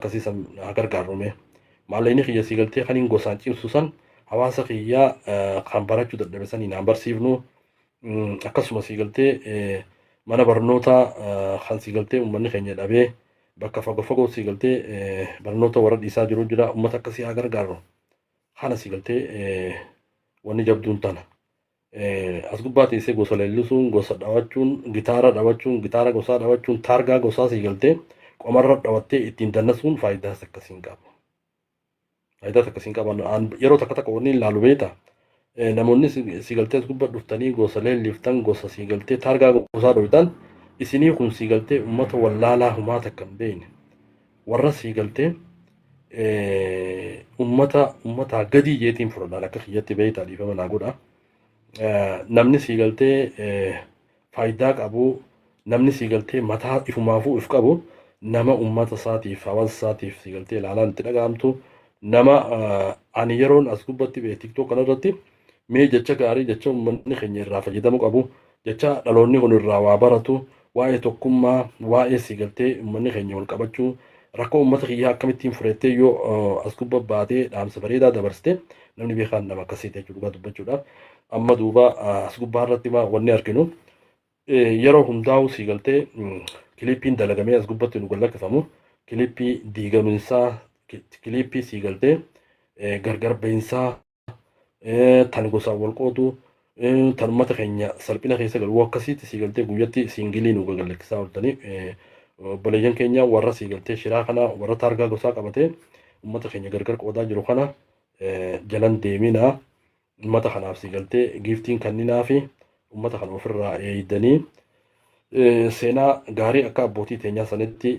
akkasii san haa gargaarru mee maallaqni kiyya sii galtee kaniin gosaan cimsu san hawaasa kiyya kan barachuu dadhabe saniin haa barsiifnu akkasuma sii galtee mana barnootaa kan sii galtee uummanni keenya dhabee bakka fagoo fagoo sii galtee barnoota warra dhiisaa jiru jira uummata akkasii haa gargaarru kana sii galtee wanni jabduun tana. Eh, As gubbaa teessee gosa leellisuun, gosa dhawachuun, gitaara dhawachuun, gitaara gosaa dhawachuun, taargaa gosaa sii galtee qomarra dhawattee ittiin dannasuun faayidaas akkasii hin qabu. Faayidaas akkasii hin qaban. An yeroo takka takka wanni ilaalu beekta. Eh, Namoonni si- sii galtee as gubbaa dhuftanii gosa leelliftan, gosa sii galtee taargaa gosaa dhooytan isinii kun sii galtee uummata wallaalaa humaa takka hin beekne. warra sii galtee ummata ummataa gadii jeetiin fudhadhaan akka kiyyatti beeytaa dhiifama naa godha. Namni sii galtee faayidaa qabu namni sii galtee mataa ifumaafuu if qabu nama ummata isaatiif hawaasa isaatiif sii galtee ilaalaan itti dhaga'amtu nama ani yeroon as gubbatti bee tiktook kanarratti Mee jecha gaarii, jecha ummanni keenya irraa fayyadamu qabu, jecha dhaloonni kun irraa waa baratu, waa'ee tokkummaa, waa'ee siigaltee ummanni keenya wal qabachuu, rakkoo ummata kiyyaa akkamittiin fureettee yoo as gubba baatee dhaamsa bareedaa dabarsite namni beekaan nama akkasiiti jechuudha dhugaa dubbachuudhaaf. Amma duuba as gubbaa irratti wanni arginu yeroo hundaa'u siigaltee kiliippiin dalagamee as gubbatti nu gallakkifamu kiliippii diigaminsaa kiliippii siigaltee gargar bahinsaa tan gosaan wal qoodu tan uummata keenya salphina keessa galu akkasiitti sii galtee guyyatti siingilii nu gagalakkisaa ooltanii obboleeyyan keenya warra sii galtee shiraa kana warra taargaa gosaa qabatee uummata keenya gargar qoodaa jiru kana jalan deeminaa uummata kanaaf sii galtee giiftiin kanninaa fi uummata kana ofirraa eeydanii seenaa gaarii akka abbootii teenyaa sanitti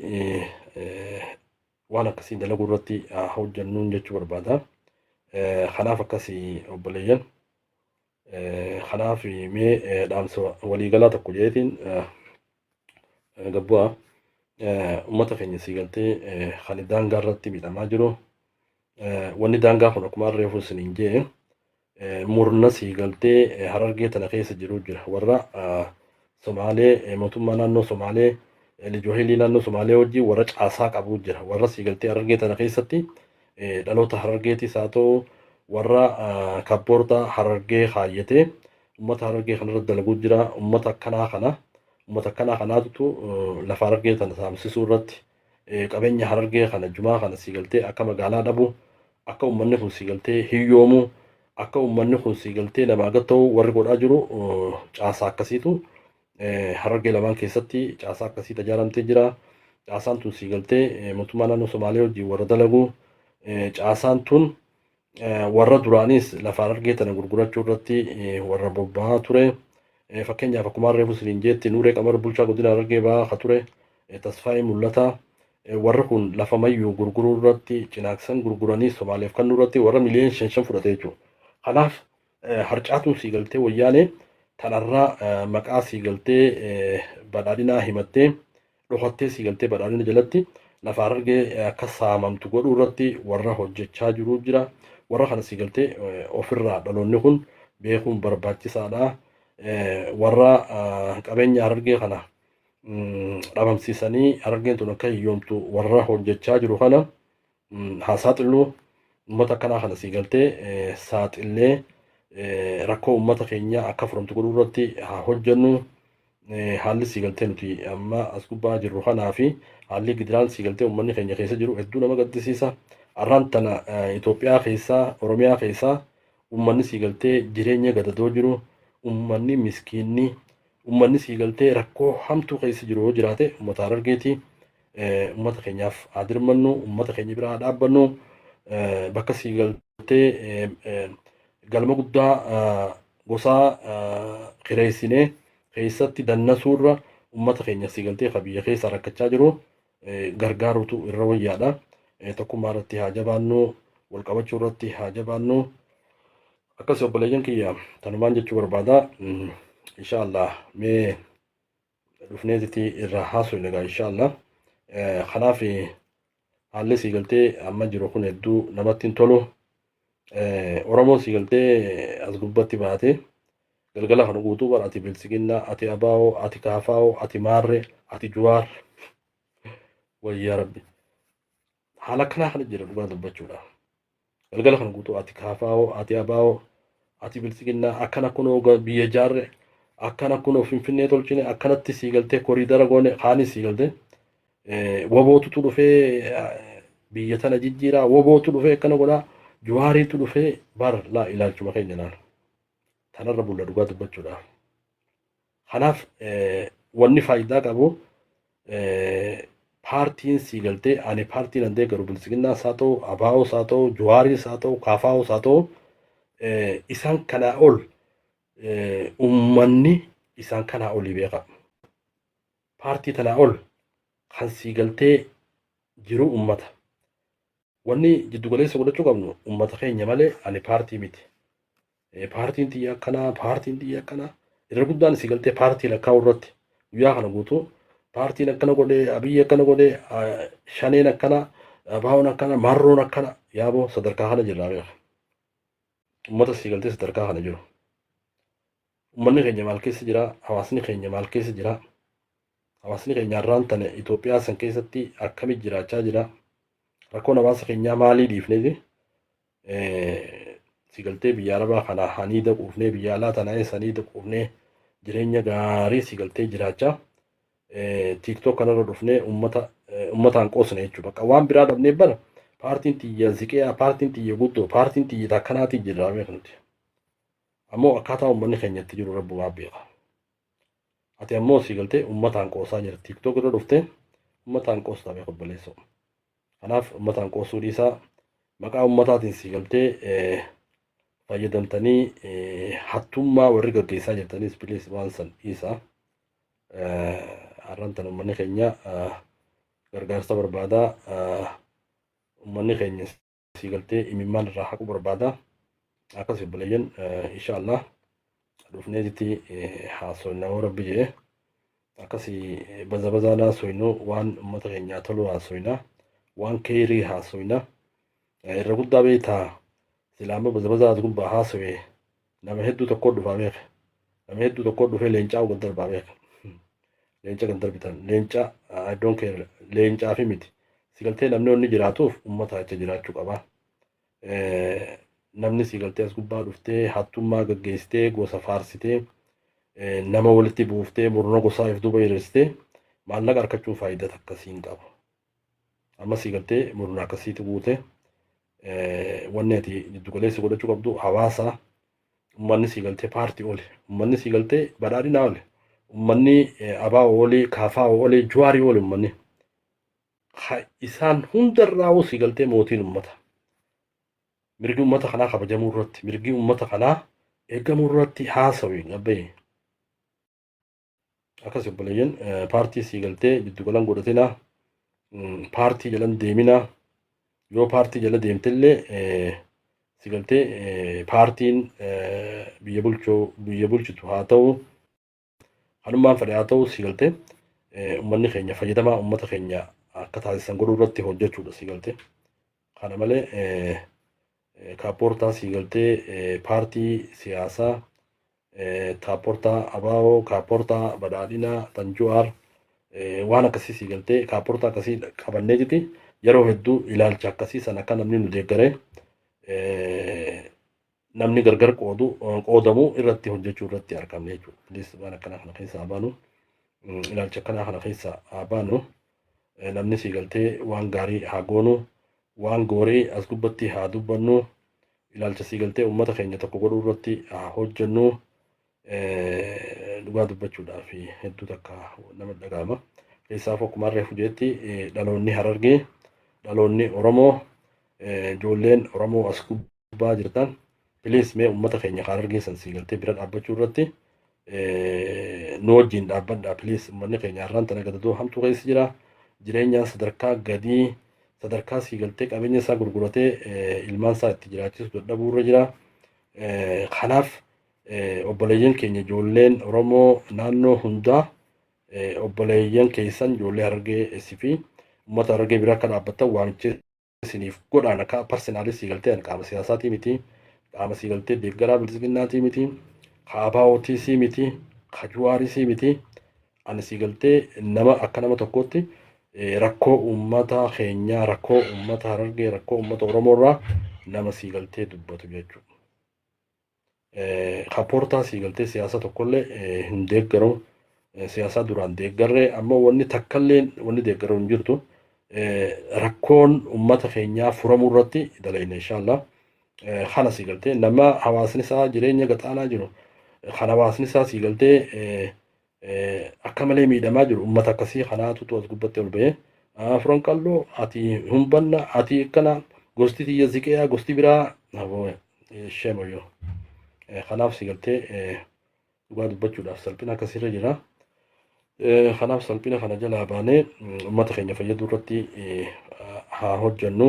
waan akkasii dalaguu irratti haa hojjannuun jechuu barbaada. Eh, Kanaaf akkasii obboleeyyan. Eh, Kanaaf mee eh, dhaamsa waliigalaa tokko jeetiin eh, eh, gabbu'aa eh, uummata keenya sii galtee eh, kan daangaa irratti miidhamaa jiru. Eh, Wanni daangaa kun akkuma reefu isiniin jee murna sii galtee harargee tana keessa jiruu jira warra somaalee mootummaa naannoo somaalee lijohelii naannoo somaalee wajjin warra caasaa qabuu jira warra sii galtee harargee tana keessatti dhaloota harargeetis haa ta'u warra kabboorta harargee kaayyatee ummata harargee kanarra dalaguu jira ummata akkanaa kana ummata akkanaa kanaatutu lafa harargee tana saamsisuu irratti Qabeenya Harargee kana jumaa kana sii galtee akka magaalaa dhabu, akka ummanni kun sii galtee hiyyoomu, akka ummanni kun sii galtee namaa gad ta'u warri godhaa jiru caasaa akkasiitu Harargee lamaan keessatti caasaa akkasii tajaaramtee jira. Caasaan tun sii galtee mootummaa naannoo Somaalee wajjin warra dalagu caasaan tun warra duraanis lafa harargee tana gurgurachuu irratti warra bobba'aa ture. Fakkeenyaaf akkuma reefu siniin jeetti Nuuree Qamar bulchaa godina harargee ba'aa ka ture Tasfaayee Mul'ataa warri kun lafa mayyuu gurguruu irratti cinaaksan gurguranii Somaaleef kannuu irratti warra miliyoon shan shan fudhate jechuudha. Kanaaf harcaatuun sii galtee wayyaanee tanarraa maqaa sii galtee badhaadhinaa himattee dhokattee sii galtee badhaadhina jalatti lafa Harargee akka saamamtu godhuu irratti warra hojjechaa jiru jira. Warra kana sii galtee ofirraa dhaloonni kun beekuun barbaachisaadha. Warra qabeenya Harargee kana dhabamsiisanii Harargeen tun akka hiyyoomtu warra hojjechaa jiru kana haa saaxillu uummata akkanaa kana sii galtee saaxillee rakkoo uummata keenya akka furamtu godhuu irratti haa hojjennu haalli sii galtee nuti amma as gubbaa jirru kanaa fi haalli gidiraan sii galtee uummanni keenya keessa jiru hedduu nama gaddisiisa arraan tana Itoophiyaa keessaa Oromiyaa keessaa uummanni sii galtee jireenya gadadoo jiru uummanni miskiinni Ummanni sii galtee rakkoo hamtuu keessa jiru yoo jiraate ummata Harargeeti. Ummata keenyaaf haa dirmannu, ummata keenya bira haa dhaabbannu. Bakka sii galtee galma guddaa gosaa kireessinee keessatti dannasuurra ummata keenya sii galtee ka biyya keessa rakkachaa jiru gargaaruutu irra wayyaadha. Tokkummaa irratti haa jabaannu, wal qabachuu irratti haa jabaannu. Akkasii obboleeyyan kiyya tanumaan jechuu barbaada. Inshaallah mee dhufneetiti irraa haasofne egaa inshaallah. Kanaaf haalli sii galtee amma jiru kun hedduu namatti hin tolu. Oromoon sii galtee as gubbatti baate Galgala kana guutuu bar ati biltsiginnaa, ati ABO, ati KFO, ati Maarree, ati Juwaar. Wayyaa rabbi. Haala akkanaa kana jira dhugaa dubbachuudha. Galgala kana guutuu ati KFO, ati ABO, ati biltsiginnaa akkana kunoo ga- biyya jaarre akkana kunoo finfinnee tolchine akkanatti sii galtee koriidara goone kaanis sii galtee eh, wabootutu dhufee eh, biyya tana jijjiiraa wabootu dhufee akkana godhaa juwaariitu dhufee bar laa ilaalchuma keenya laala. Kanarra bulla dhugaa dubbachuudhaaf. Kanaaf wanni faayidaa qabu paartiin sii galtee ani paartiin an deeggaru bilisiginnaa isaa ta'u abaa'oo isaa ta'u juwaariin isaa ta'u kaafaa'oo isaa ta'u isaan kanaa ol uummanni isaan kanaa olii beeka. Paartii tanaa ol kan sii galtee jiru uummata. Wanni jiddu galeessa godhachuu qabnu ummata keenya malee ani paartii miti. Paartiin tiyya akkanaa, paartiin tiyya akkanaa. Irra guddaan si galtee paartii lakkaa'uu irratti guyyaa kana guutuu paartiin akkana godhee, abiyyi akkana godhee, shaneen akkana, abaawoon akkana, marroon akkana yaaboo sadarkaa kana jirraa beeka. Ummata si galtee sadarkaa kana jiru. Uummanni keenya maal keessa jira? Hawaasni keenya maal keessa jira? Hawaasni keenya har'aan tana Itoophiyaa san keessatti akkamitti jiraachaa jira? Rakkoon hawaasa keenyaa maalii dhiifneeti? Si galtee biyya Arabaa kana hanii daquufnee biyya alaa tana eessanii daquufnee jireenya gaarii si galtee jiraachaa tiiktook kanarra dhufnee uummata uummataan qoosne jechuudha. Bakka waan biraa dhabnee bara paartiin tiyya ziqiyaa, paartiin tiyya guddoo, paartiin tiyya akkanaatiin jirraa beeknuti. Ammoo akkaataa ummanni keenya itti jiru rabbumaa beeka. Ati ammoo sii galtee ummataan qoosaa jirta. Tiktok irra dhuftee ummataan qoostaa beeka obboleessoo. Kanaaf ummataan qoosuu dhiisaa maqaa ummataatiin sii galtee eh, fayyadamtanii eh, hattummaa warri gaggeessaa jirtaniis bilees waan san dhiisaa. Eh, Har'aan tan ummanni keenya eh, gargaarsa barbaadaa eh, ummanni keenya sii galtee imimmaan irraa haquu barbaada akkas obboleeyyan insha allah dhufneetitti haasofna yoo rabbi jedhe akkasi baza bazaan haasofnu waan uummata keenyaa tolu haasofna waan keeyrii haasofna irra guddaa beektaa silaama baza bazaa as gubbaa haasofee Nama hedduu tokkoo dhufaa beeka. Nama hedduu tokkoo dhufee leencaa wal darbaa beeka. Leenca kan darbitan. Leenca I don't care. Leencaa fi miti. Si galtee namni wanni jiraatuuf uummata acha jiraachuu qaba. Namni si galtee as gubbaa dhuftee hattummaa gaggeessitee gosa faarsitee nama walitti buuftee murna gosaa if duuba hiriirsitee maallaqa arkachuun faayidaa takka siin qabu. Ammasii galtee murna akkasiitu guute wanni ati jiddu galeessa godhachuu qabdu hawaasa ummanni sii galtee paartii oli ummanni sii galtee badhaadhinaa oli ummanni abaa oli kaafaa oli juwaarii oli ummanni isaan hundarraa sii galtee mootiin ummata mirgi ummata kanaa kabajamuu irratti mirgi ummata kanaa eegamuu irratti haasawii abbayee Akkas obboleeyyan paartii sii galtee jiddu galan godhatina paartii jalan deemina yoo paartii jala deemtillee si galtee paartiin biyya bulchuu biyya bulchitu haa ta'u hanummaan fedhe haa ta'u si galtee ummanni keenya fayyadamaa ummata keenya akka taasisan godhuu irratti hojjechuudha si galtee kana malee Kaappoortaan sii galtee paartii siyaasaa kaappoortaa ABO, kaappoortaa badhaadhinaa tan Juwaar waan akkasii sii galtee kaappoortaa akkasii qabannee jiti yeroo hedduu ilaalcha akkasii san akka namni nu deeggare namni gargar qoodu qoodamu irratti hojjechuu irratti argamne jechuudha. Please waan akkanaa kana keessa haa baanu ilaalcha akkanaa kana keessa haa baanu namni sii galtee waan gaarii haa goonu Waan goore as gubbatti haa dubbannu. Ilaalcha sii galtee uummata keenya tokko godhuu irratti haa hojjennu. Dhugaa dubbachuudhaaf hedduu takka nama dhaga'ama. Keessaaf akkuma harree fujeetti dhaloonni harargee dhaloonni Oromoo ijoolleen Oromoo as gubbaa. gubbaa jirtan please mee ummata keenya kaan argeessan sii galtee bira dhaabbachuu irratti nu wajjin dhaabbadha please ummanni keenya har'aan tana gadadoo hamtuu keessa jira jireenyaan sadarkaa gadii sadarkaa sii galtee qabeenya isaa gurguratee ilmaan isaa itti jiraachisu dadhabuu irra jira kanaaf obboleeyyan keenya ijoolleen oromoo naannoo hundaa obboleeyyan keessan ijoollee harargee fi ummata harargee bira akka dhaabbatan waamichee isiniif godhaan akka parsenaalii sii galtee an qaama siyaasaatii miti qaama sii galtee deeggaraa bilisiginnaatii miti kaabaawotii sii miti kajuwaarii sii miti ani sii galtee nama akka nama tokkootti rakkoo uummata keenyaa rakkoo uummata harargee rakkoo uummata oromoo irraa nama sii galtee dubbatu jechuudha. Kapoortaan sii galtee siyaasa tokkollee hin deeggaru. Siyaasaa duraan deeggarre amma wanni takkallee wanni deeggaru hin jirtu. Rakkoon uummata keenyaa furamuu irratti dalayna inshaallah. Kana sii galtee nama hawaasni isaa jireenya gaxaanaa jiru kan hawaasni isaa sii galtee akka malee miidhamaa jiru ummata akkasii kanaatutu as gubbatti ol ba'ee afran qalloo ati humbanna ati akkana gosti tiyya ziqeeyaa gosti biraa shemoyo kanaaf si galtee dhugaa dubbachuudhaaf salphina akkasirra jira kanaaf salphina kana jalaa baanee ummata keenya fayyaduu irratti haa hojjannu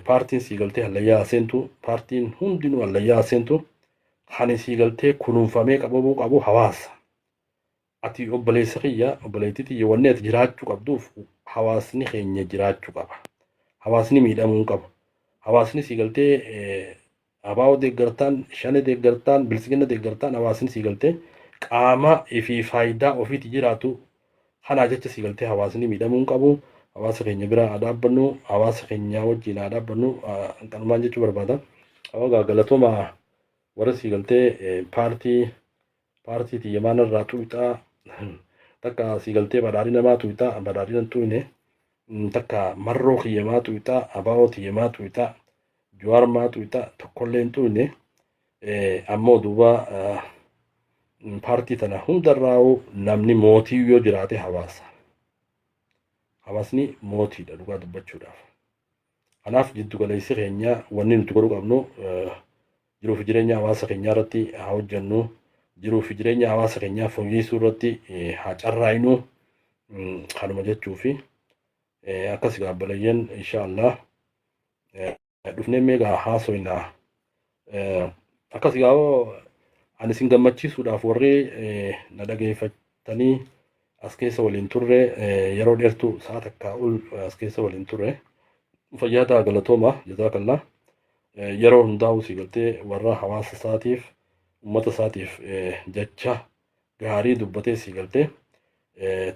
Paartiin sii galtee hallayyaa haa seentu. Paartiin hundinuu hallayyaa haa seentu. Kan sii galtee kunuunfamee qabamuu qabu hawaasa. Ati obboleessa kiyya, obboleettii tiyya wanni ati jiraachuu qabduuf hawaasni keenya jiraachuu qaba. Hawaasni miidhamuu hin qabu. Hawaasni sii galtee Abo deeggartaan, Shane deeggartaan, Biltsiginna deeggartaan hawaasni sii galtee qaama fi faaydaa ofiiti jiraatu kanaa jecha sii galtee hawaasni miidhamuu hin qabu. Hawaasa keenya biraa haa dhaabbannu. Hawaasa keenyaa wajjiin haa dhaabbannu. Kanumaan jechuu barbaada. Ogaa galatooma warra sii galtee paartii Paartii tiyya maa narraa tuuyxaa? Takka sii galtee badhaadhina maa tuuyxaa? Badhaadhina hin tuuyne. Takka marroo kiyya maa tuuyxaa? Abaa'oo tiyya maa tuuyxaa? Juwaar maa tuuyxaa? Tokkollee hin tuuyne. Ammoo duuba paartii tana hundarraa'uu namni mootii yoo jiraate hawaasa. Hawaasni mootiidha dhugaa dubbachuudhaaf. Kanaaf jiddu galeessi keenya wanni nuti godhuu qabnu jiruu fi jireenya hawaasa keenyaa irratti haa hojjennu. Jiruu fi jireenya hawaasa keenyaa fooyyeessuu irratti haa carraa'inu kanuma jechuu fi akkas gaabbalayyan insha Allah dhufnee meegaa haasoyna Eh, Akkas gaa'oo ani isin gammachiisuudhaaf warri eh, na dhageeffatanii as keessa waliin turre eh, yeroo dheertuu sa'a takkaa ol eh, as keessa waliin turre fayyaa ta'a galatooma jazaa kallaa Eh, yeroo hundaa'u si galtee warra hawaasa isaatiif uummata isaatiif eh, jecha gaarii dubbatee si galtee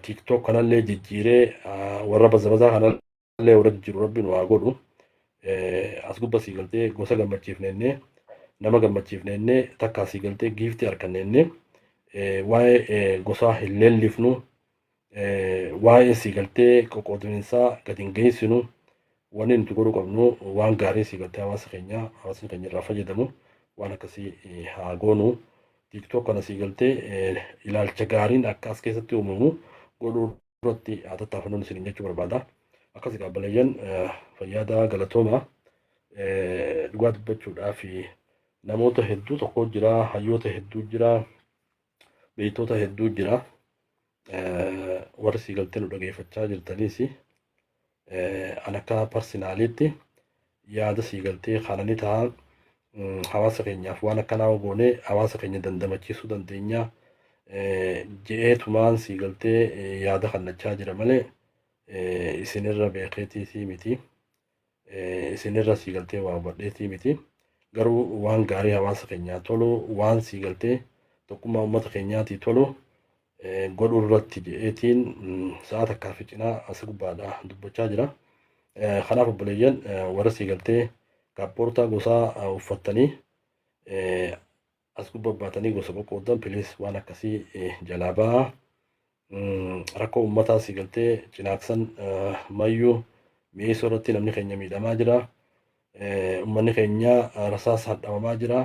tiktok kanallee jijjiiree ah, warra bazabazaa kanallee illee warra jijjiiru rabbi nu haa godhu as gubba sii galtee gosa gammachiifneennee nama gammachiifneennee takkaa sii galtee giiftii harkanneennee waa'ee gosaa hin leellifnu waa'ee sii galtee qoqqoodaminsaa gadi hin geessinu wanni nuti godhuu qabnu waan gaarii sii galtee hawaasa keenyaa hawaasni keenya irraa fayyadamu waan akkasii haa goonu tiiktook kana sii galtee ilaalcha gaariin akka as keessatti uumamu godhuu duratti haa tattaafannuun isiniin jechuu barbaada. Akkas egaa obboleeyyan fayyaadaa galatooma dhugaa dubbachuudhaaf namoota hedduu tokko jira, hayyoota hedduu jira, beektoota hedduu jira. Warri sii galtee nu dhageeffachaa jirtaniis an akka parsinaaliitti yaada sii galtee kana ni ta'a hawaasa keenyaaf waan akkanaa ogoonee hawaasa keenya dandamachiisuu dandeenya je'ee tumaan sii galtee yaada kannachaa jira malee isinirra beekeetiitii miti isinirra sii galtee waa hubadheetii miti garuu waan gaarii hawaasa keenyaa tolu waan sii galtee tokkummaa uummata keenyaatii tolu godhuu irratti jedheetiin sa'a takkaa fi cinaa as gubbaadha dubbachaa jira. Kanaaf obboleeyyan warra sii galtee kaappoortaa gosaa uffattanii as gubba baatanii gosa qoqqooddan piliis waan akkasii jalaa ba'aa. Rakkoo uummataa sii galtee cinaaksan mayyuu mi'eessoo irratti namni keenya miidhamaa jira. Ummanni keenya rasaasa hadhamamaa jira.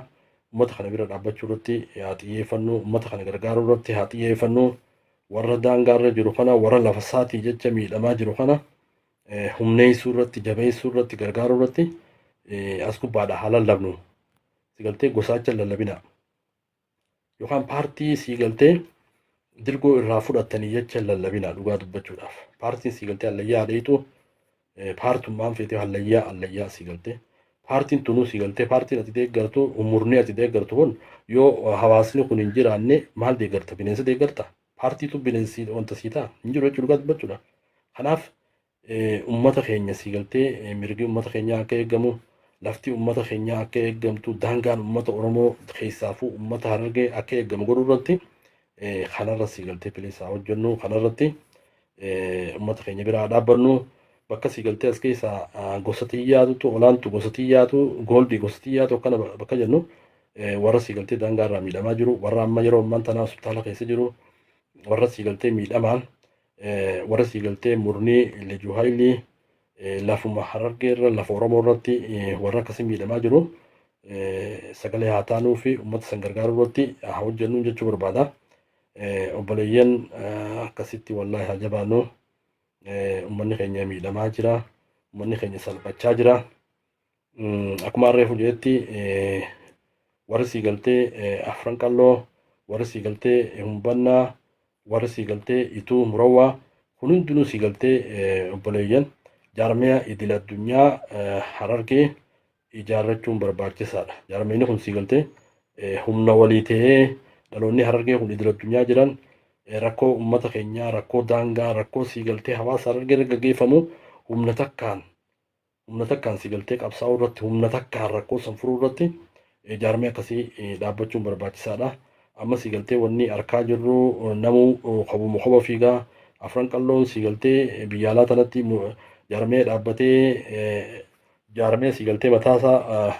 Ummata kana bira dhaabbachuu irratti haa xiyyeeffannu. Ummata kana gargaaruu irratti haa xiyyeeffannu. Warra daangaa irra jiru kana, warra lafa isaatii jecha miidhamaa jiru kana humneessuu irratti, jabeessuu irratti, gargaaruu irratti as gubbaadha haa lallabnu. Sigaltee gosaacha lallabina. yookaan paartii sii galtee dirgoo irraa fudhattanii jecha lallabinaa dhugaa dubbachuudhaaf. Paartiin sii galtee allayyaa adeetu paartummaan feetee allayyaa allayyaa sii galtee. Paartiin tunuu sii galtee paartiin ati deeggartu umurnee ati deeggartu kun yoo hawaasni kun hin jiraanne maal deeggarta bineensa deeggarta paartiitu bineensi wanta sii ta'a hin jiru jechuudha dhugaa dubbachuudha. Kanaaf Ummata keenya sii galtee mirgi ummata keenyaa akka eegamu lafti ummata keenyaa akka eegamtu daangaan ummata Oromoo keessaafuu ummata Harargee akka eegamu godhuu irratti kanarra sii galtee piliis haa hojjennu kanarratti ummata keenya biraa dhaabbannu bakka sii galtee as keessaa gosa xiyyaatutu olaantu gosa xiyyaatu gooldii gosa xiyyaatu akkana bakka jennu warra sii galtee daangaa irraa miidhamaa jiru warra amma yeroo ammaan tanaa hospitaala keessa jiru warra sii galtee miidhamaan warra sii galtee murnii Liju Haayilii lafuma harargee irra lafa Oromoo irratti warra akkasii miidhamaa jiru sagalee haa taanuu fi uummata san gargaaruu irratti haa hojjennu jechuu barbaada. Obboleeyyan akkasitti wallaahi haa jabaannu. Uummanni keenya miidhamaa jira. Uummanni keenya salphachaa jira. Akkuma reefu jedhetti warri sii galtee afran qalloo warri sii galtee humbannaa warri sii galtee ituu murawwaa kun hundinuu sii galtee obboleeyyan jaarmiyaa idil addunyaa harargee ijaarrachuun barbaachisaadha. Jaarmiyni kun sii galtee humna walii ta'ee dhaloonni harargee kun idil addunyaa jiran rakkoo uummata keenyaa rakkoo daangaa rakkoo sii galtee hawaasa harargee irra gaggeeffamu humna takkaan humna takkaan si galtee qabsaa'uu irratti humna takkaan rakkoo san furuu irratti jaarmee akkasii dhaabbachuun barbaachisaadha. Amma si galtee wanni harkaa jirru namuu kobuma koba fiigaa afran qalloon si galtee biyya alaa tanatti jaarmee dhaabbatee jaarmee si galtee mataasaa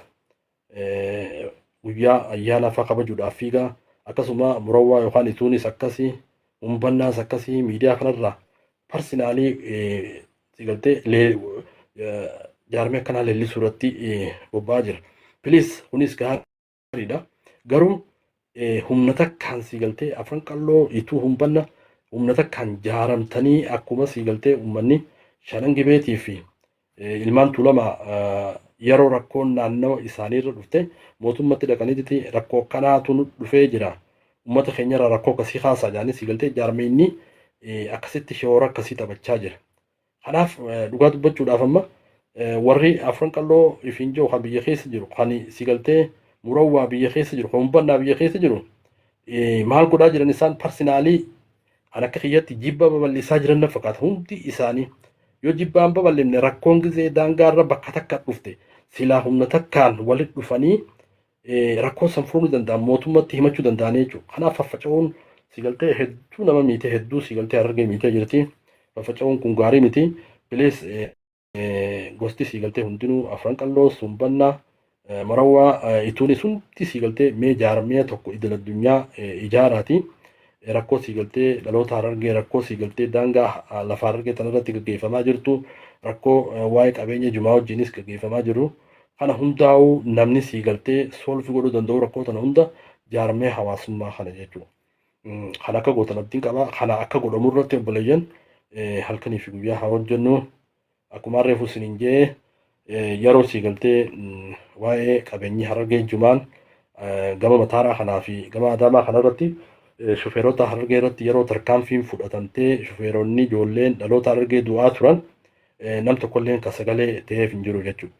guyyaa ayyaana afaa kabajuudhaaf fiigaa akkasuma murawwaa yookaan ituunis akkasii humbannaas akkasii miidiyaa kanarraa parsinaalii sigaltee jaarmee akkanaa leellisuu irratti bobba'aa jira. Piliis kunis gaariidha. Garuu humna takkaan sii galtee afran qalloo ituu humbanna humna takkaan jaaramtanii akkuma sii galtee ummanni shanan gibeetii fi ilmaan tuulama yeroo rakkoon naannawa isaanii irra dhufte mootummatti dhaqanitti rakkoo kanaatu nu dhufee jira ummata keenyarra rakkoo akkasii kaasaa jedhanii sii galtee jaarmeenni akkasitti shoora akkasii taphachaa jira Kanaaf dhugaa dubbachuudhaaf amma warri afran qalloo ifiin jiru kan biyya keessa jiru kan si galtee murawwaa biyya keessa jiru kan hubbannaa biyya keessa jiru maal godhaa jiran isaan parsinaalii kan akka kiyyatti jibba babal'isaa jiran na fakkaata hundi isaanii yoo jibbaan babal'ifne rakkoon gizee daangaarra bakka takka dhufte silaa humna takkaan walitti dhufanii rakkoo san furuun ni danda'an mootummatti himachuu danda'anii jechuudha. Kanaaf faffaca'uun sigaltee hedduu nama miite hedduu sigaltee harargee miitee jirti. Faffaca'uun kun gaarii miti. Bilees gosti sigaltee hundinuu afran qalloo sumbannaa marawwaa ituunis hundi sigaltee mee jaarmee tokko idil addunyaa ijaaraati. Rakkoo sigaltee dhaloota harargee rakkoo sigaltee daangaa lafa harargee tanarratti gaggeeffamaa jirtu rakkoo waa'ee qabeenya jumaa wajjinis gaggeeffamaa jiru. Kana hundaa'uu namni sii galtee solve godhuu danda'u rakkoo tana hunda jaarmee hawaasummaa kana jechuudha. Mm, Kan akka gootan abdiin qaba. Kana akka godhamu irratti obboleeyyan eh, halkanii fi guyyaa haa hojjennu. Akkuma reefu isiniin jee eh, yeroo sii galtee mm, waa'ee qabeenyi harargee jumaan eh, gama mataaraa kanaa fi gama adaamaa kana irratti eh, shufeerota harargee irratti yeroo tarkaanfiin fudhatamtee shufeeronni ijoolleen dhaloota harargee du'aa turan nam tokkolleen ka sagalee ta'eef hin jiru jechuudha.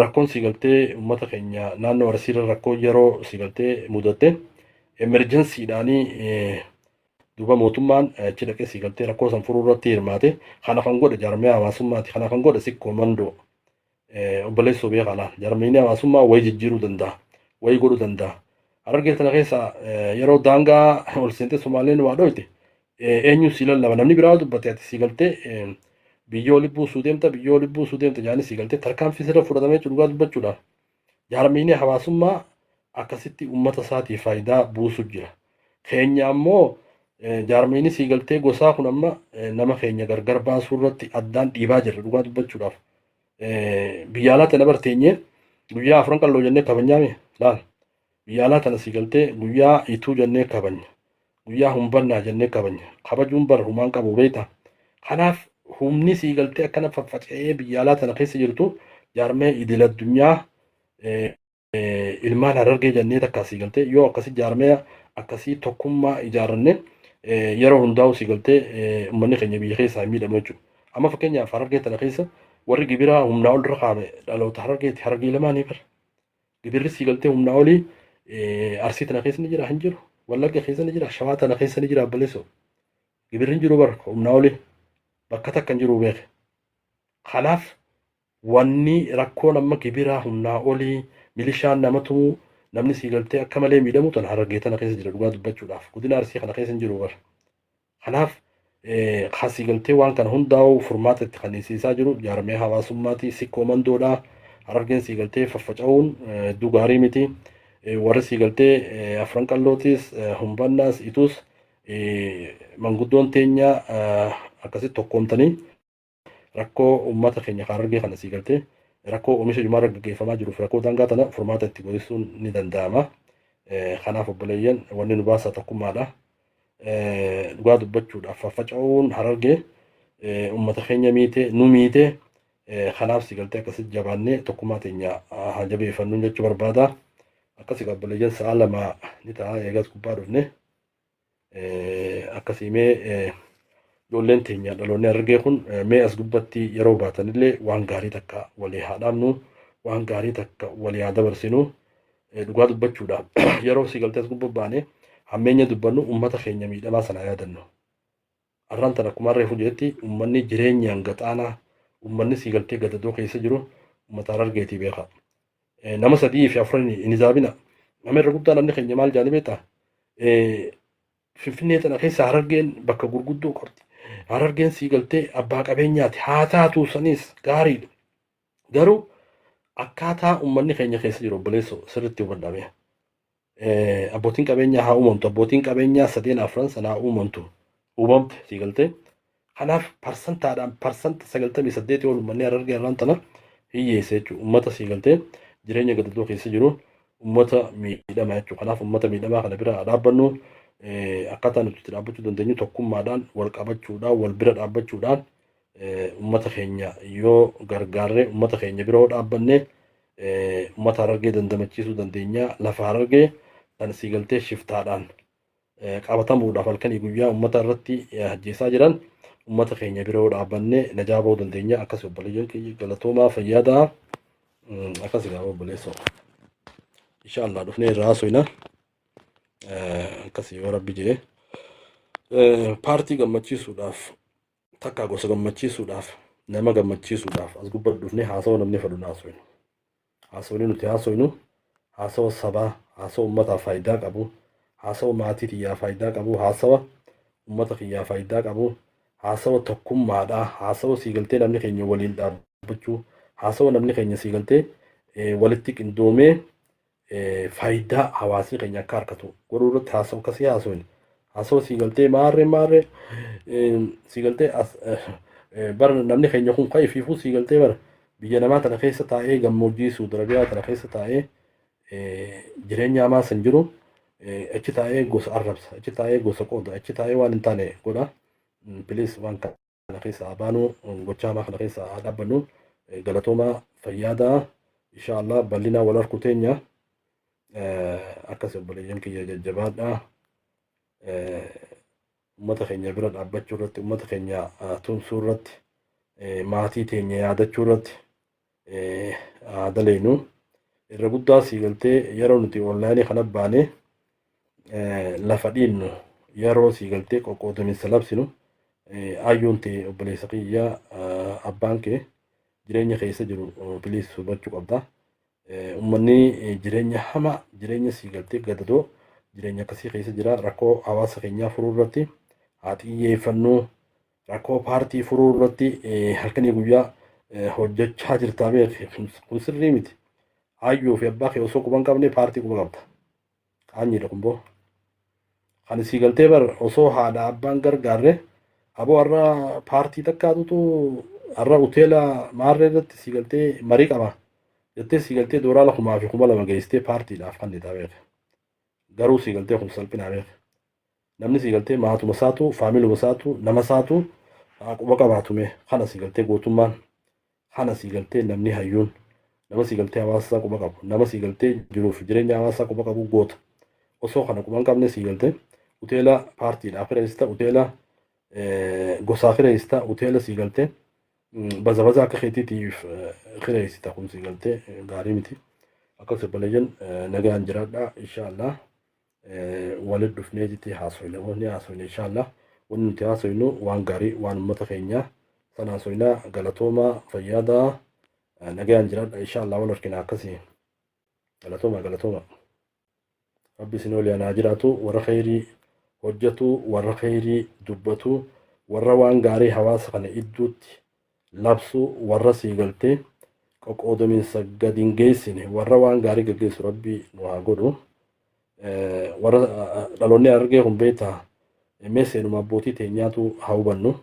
Rakkoon si galtee uummata keenya naannoo Arsiirra rakkoo yeroo si galtee mudatte emerjensiidhaanii duuba mootummaan achi dhaqee si galtee rakkoo san furuu irratti hirmaate kana kan godhe jaarmiyaa hawaasummaati kana kan godhe sikkoo mandoo obboleessoo biyya kanaa jarmiinii hawaasummaa wayi jijjiiruu danda'a wayi godhuu danda'a harargee tana keessa yeroo daangaa ol seentee somaaleen waa dhooyte eenyu si lallaba namni biraa dubbate ati si galtee biyyoo libbuu suu deemta biyyoo libbuu suu deemta jaanii si galtee tarkaanfii sirra fudhatamee dhugaa dubbachuudhaaf jarmiinii hawaasummaa akkasitti uummata isaatii faayidaa buusu jira keenya ammoo eh, jaarmiinis galtee gosaa kun amma eh, nama keenya gargar baasuu irratti addaan dhiibaa jirra dhugaa dubbachuudhaaf. Eh, Biyya alaa tana barteenyee guyyaa afran qalloo jennee kabajnaa mee laal. Biyya alaa tana sii galtee guyyaa ituu jennee kabajna. Guyyaa humbannaa jennee kabajna. Kabajuun bara humaan qabu beektaa. Kanaaf humni sii galtee akkana faffaca'ee biyya alaa tana keessa jirtu jaarmee idil addunyaa eh, ilmaan harargee jennee takka asii galtee yoo akkasii jaarmaya akkasii tokkummaa ijaarranne yeroo hundaa'u sii galtee uummanni keenya biyya keessaa hin miidhamu jechuudha. Amma fakkeenyaaf harargee tana keessa warri gibiraa humnaa ol irra kaa'ame dhaloota harargeeti harargee lamaanii bara. Gibirri sii galtee humnaa olii arsii tana keessa ni jira hin jiru. Wallagga keessa ni jira shawaa tana keessa ni jira abbaleessoo. Gibirri hin jiru bara humnaa olii bakka takka hin jiru beeke. Kanaaf Wanni rakkoon amma gibiraa humnaa oli, milishaan nama tumu, namni sii galtee akka malee miidhamu tana Harargee tana keessa jira dhugaa dubbachuudhaaf. Godina Arsii kana keessa hin jiru bar. Kanaaf kan sii galtee waan kana hundaa'u furmaata itti kanniisiisaa jiru jaarmee hawaasummaati sikkoo mandoodha. Harargeen sii galtee faffaca'uun hedduu gaarii miti. Warri sii galtee afran qallootis, humbannaas, ituus manguddoon teenya akkasitti tokkoomtanii Rakkoo uummata keenya Harargee kana sii galtee rakkoo oomisha jimaarra gaggeeffamaa jiruuf rakkoo daangaa tana furmaata itti godhessuun ni danda'ama. Kanaaf obboleeyyan wanni nu baasaa tokkummaadha. Dhugaa dubbachuudhaaf faffaca'uun Harargee uummata keenya miite nu miite kanaaf si galtee akkasitti jabaannee tokkummaa teenya haa jabeeffannuun jechuu barbaada. Akkasii obboleeyyan sa'a lama ni ta'a eegas gubbaa dhufne. Akkasii mee ijoolleen teenya dhaloonni argee kun mee as gubbatti yeroo baatanillee waan gaarii takka walii haa dhaabnu waan gaarii takka walii haa dabarsinu dhugaa dubbachuudhaaf yeroo si galtee as gubba baane hammeenya dubbannu uummata keenya miidhamaa sana yaadannu. Arraan tana akkuma reefu jedhetti ummanni jireenyaan gaxaanaa ummanni siigaltee gadadoo keessa jiru ummata Harargeetii beekaa. Nama sadii fi afran hin hisaabina. Nama irra guddaa namni keenya maal jaanii beektaa? Finfinnee tana keessa Harargeen bakka gurguddoo qabdi. Harargeen siigaltee abbaa qabeenyaati. Haa taatu sanis gaariidha. Garuu akkaataa ummanni keenya keessa jiru obboleesso sirritti hubadhame. Abbootiin qabeenyaa haa uumamtu. Abbootiin qabeenyaa sadeen afran sana haa uumamtu. Uumamte sii galtee. Kanaaf parsantaadhaan parsanta sagaltamii saddeetii ol ummanni harargee irraan tana hiyyeessa jechuudha. Ummata sii galtee jireenya gadadoo keessa jiru ummata miidhama jechuudha. Kanaaf ummata miidhamaa kana bira dhaabbannu akkaataa nuti itti dhaabbachuu dandeenyu tokkummaadhaan wal qabachuudhaan wal bira dhaabbachuudhaan Ummata keenya yoo gargaarree ummata keenya bira yoo dhaabbanne ummata harargee dandamachiisuu dandeenya. Lafa harargee kan sii galtee shiftaadhaan qabatamuudhaaf halkanii guyyaa ummata irratti ajjeesaa jiran ummata keenya bira yoo dhaabbanne najaa bahuu dandeenya. Akkas obboleeyyan keenya galatoomaa fayyaa ta'a. Akkas egaa obboleessoo. Inshaallah dhufnee irraa haasofna. Akkas yoo rabbi jee. Paartii gammachiisuudhaaf Takkaa gosa gammachiisuudhaaf nama gammachiisuudhaaf as gubbaa dhufnee haasawa namni fedhu haasofnu. Haasawni nuti haasofnu haasawa sabaa, haasawa uummataa faayidaa qabu, haasawa maatii tiyyaa faayidaa qabu, haasawa uummata kiyyaa faayidaa qabu, haasawa tokkummaadhaa, haasawa sii galtee namni keenya waliin dhaabbachuu, haasawa namni keenya sii galtee walitti qindoomee faayidaa hawaasni keenya akka harkatu godhuu irratti haasa'u akka sii haasawin haasa'u sii galtee maarree maarree sii galtee bara namni keenya kun kan ifiifuu sii galtee bara biyya namaa tana keessa taa'ee gammoojjii suudarabiyaa tana keessa taa'ee jireenya hamaa san jiru achi taa'ee gosa arrabsa achi taa'ee gosa qooda achi taa'ee waan hin taane godha piliis waan kana. kana keessa haa baanu gochaa hamaa kana keessa haa dhaabbannu galatoomaa fayyaadaa insha Allah bal'inaa wal harku teenya akkas obboleeyyan kiyya jajjabaadhaa ummata keenya bira dhaabbachuu irratti ummata keenya tumsuu irratti maatii teenya yaadachuu irratti haa daleynu irra guddaa sii galtee yeroo nuti onlaayinii kana baane lafa dhiinnu yeroo sii galtee qoqqoodaminsa labsinu ayyuun tee obboleessa kiyya abbaan kee jireenya keessa jiru biliis hubachuu qabda. Uummanni jireenya hamaa jireenya sii galtee gadadoo jireenya akkasii keessa jira rakkoo hawaasa keenyaa furuu irratti haa xiyyeeffannuu. Rakkoo paartii furuu irratti halkanii guyyaa hojjechaa jirtaa beeki. Kun sirrii miti. Hayyuu fi abbaa kee osoo quban qabne paartii quba qabda. Qaanyiidha kun boo. Kan isii galtee bar osoo haadha abbaan gargaarre aboo har'a paartii takkaatutu har'a hoteela maarree irratti sii galtee marii qaba. Jettee sii galtee dooraala kumaa fi kuma lama geessitee paartiidhaaf kan ni beeka. Garuu sii galtee kun salphinaa beeka. Namni sii galtee maatuma saatu faamiluma saatu nama saatu haa quba qabaatume kana sii galtee gootummaan kana sii galtee namni hayyuun nama sii galtee hawaasa isaa quba qabu nama sii galtee jiruuf jireenya hawaasa isaa quba qabu goota osoo kana quba hin qabne sii galtee uteela paartiidhaa kireessita uteela gosaa kireessita uteela sii galtee baza baza akka keetiitiif kireessita kun sii galtee gaarii miti akka sirbalayyan nagaan jiraadhaa inshaallah. Walit dhufnee jitii haasoyna moo ni haasoyna inshallah wanni nuti haasoynu waan gaarii waan ummata keenya san haasoyna galatooma fayyaada nagayaan jiraadha inshallah wal argina akkasii galatooma galatooma rabbi isin waliin haa jiraatu warra kheyrii hojjatu warra kheyrii dubbatu warra waan gaarii hawaasa kana idduutti labsuu warra sii galtee qoqoodominsa gad hin geessine warra waan gaarii gaggeessu rabbi nu haa godhu warra dhaloonni argee kun beektaa mee seenuma abbootii teenyaatu haa hubannu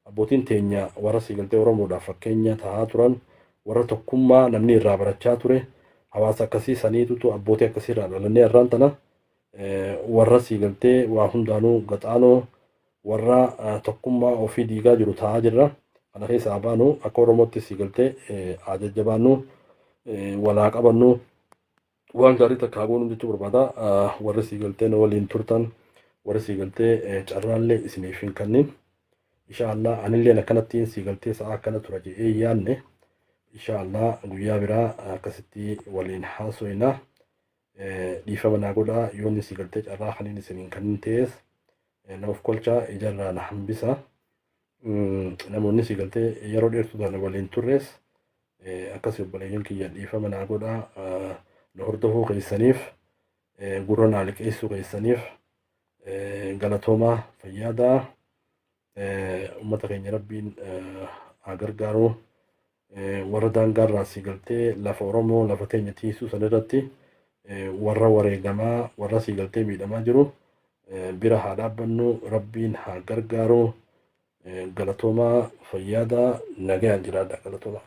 abbootiin teenya warra sii galtee oromoodhaaf fakkeenya tahaa turan warra tokkummaa namni irraa barachaa ture hawaasa akkasii saniitutu abbootii akkasii irraa dhalannee irraan tana warra sii galtee waa hundaanuu gaxaanoo warra tokkummaa ofii diigaa jiru ta'aa jirra. Kana keessa haa baanu akka Oromootti sii galtee haa jajjabaannu walaa qabannu waan gaarii takka haa goonu jechuu barbaada. Warri sii galtee na waliin turtan warri sii galtee carraallee isiniif hin kannin. Inshaallah anilleen akkanattiin sii galtee sa'a akkana tura jedhee yaanne. Inshaallah guyyaa biraa akkasitti waliin haasoyna. Dhiifama naa godhaa yoon isii galtee carraa kaniin isin hin kannin ta'ees na of kolchaa ijarraa na hambisa. Namoonni isii galtee yeroo dheertuu taana waliin turrees akkasii obboleeyyan kiyya dhiifama naa godhaa na hordofuu keessaniif gurra naa liqeessuu keessaniif galatoomaa fayyaadaa uummata keenya rabbiin haa gargaaruu. warra daangaa irraa asii galtee lafa Oromoo lafa teenya tiisuu san irratti warra wareegamaa warra asii galtee miidhamaa jiru bira haa dhaabbannu rabbiin haa gargaaru galatoomaa fayyaadaa nagayaan jiraadha galatoomaa.